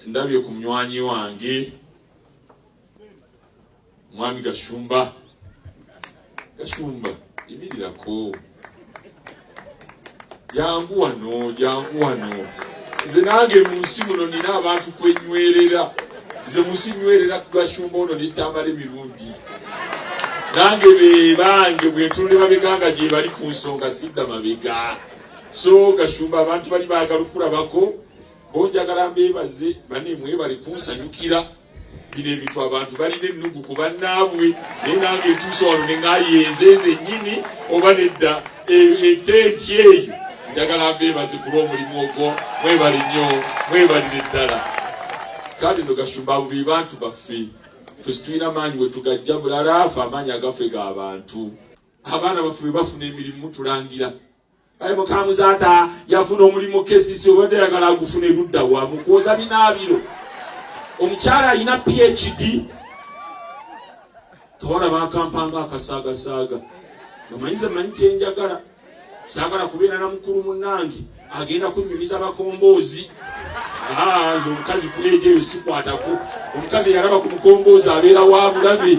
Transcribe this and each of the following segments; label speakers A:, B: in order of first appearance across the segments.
A: ndabye ku munywanyi wange mwami gashumba gashumba imirirako jangu wano jangu wano nze nange mu nsi muno nina abantu kwenywerera nze mu nsi nywerera ku gashumba ono netambala emirundi nange bebange bwentunule mabeganga gyebali ku nsonga sidda mabega so gashumba abantu bali bagala okulabako Bo njagala mbeebaze bane mwebale kunsanyukira bino ebintu abantu balina ennugu ku bannaabwe naye nange etuusa wano ne ngayenzeeze nnyini oba nedda e, etenti eyo njagala mbeebaze ku lw'omulimu ogwo mwebale nnyo mwebalire eddala kale no gashumba abo be bantu baffe fe situlina maanyi wetugajja bulala afe amaanyi agafe ga bantu abaana baffe bwe bafuna emirimu tulangira kale mukamuzata yafuna omulimu kesisi obadde yagala agufuna erudda wa mukwoza binaabiro omukyala alina phd kawala bakampanga akasaagasaaga ngamanyize manyi kyenjagala saagala kubeera na mukulu munange agenda kunyumiza bakomboozi ah, nze omukazi kuleejeyo sikwatako omukazi eyalaba ku mukomboozi abeera wa bulabe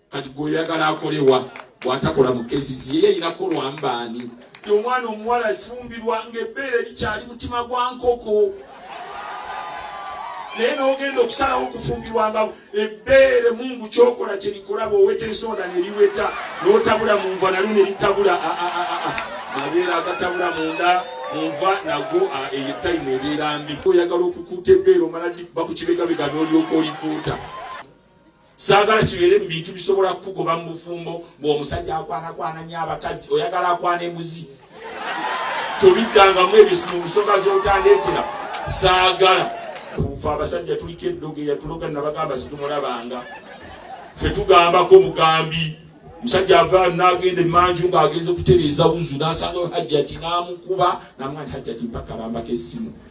A: kati gwe oyagala akolewa bwatakola mu kesisi yeye erina kukolwamu baani omwana omuwala efumbirwa ngaebbeere likyali mutima gwa nkoko naye nogenda okusalawo okufumbirwa nga ebbeere mungu kyokola kyerikola bwoweta ensonda neriweta notabula munva nalu neritabula mabeera agatabula munda munva nago eyetayimu ebeera mbi oyagala okukuuta ebbeere omala bakukibegabega nolyoka olikuuta saagala kibeere mu bintu bisobola kukugoba mu bufumbo ng'omusajja akwanakwana nyo abakazi oyagala akwana embuzi tobiddangamu ebyo mu nsonga z'otandeetera saagala fe abasajja tuliko eddogo eyatuloga nabagamba situmulabanga fe tugambako mugambi musajja ava nagenda emanju ng'agenze okutereeza wuzu n'asanga hajjati n'amukuba namwani hajjati mpakalambako essimu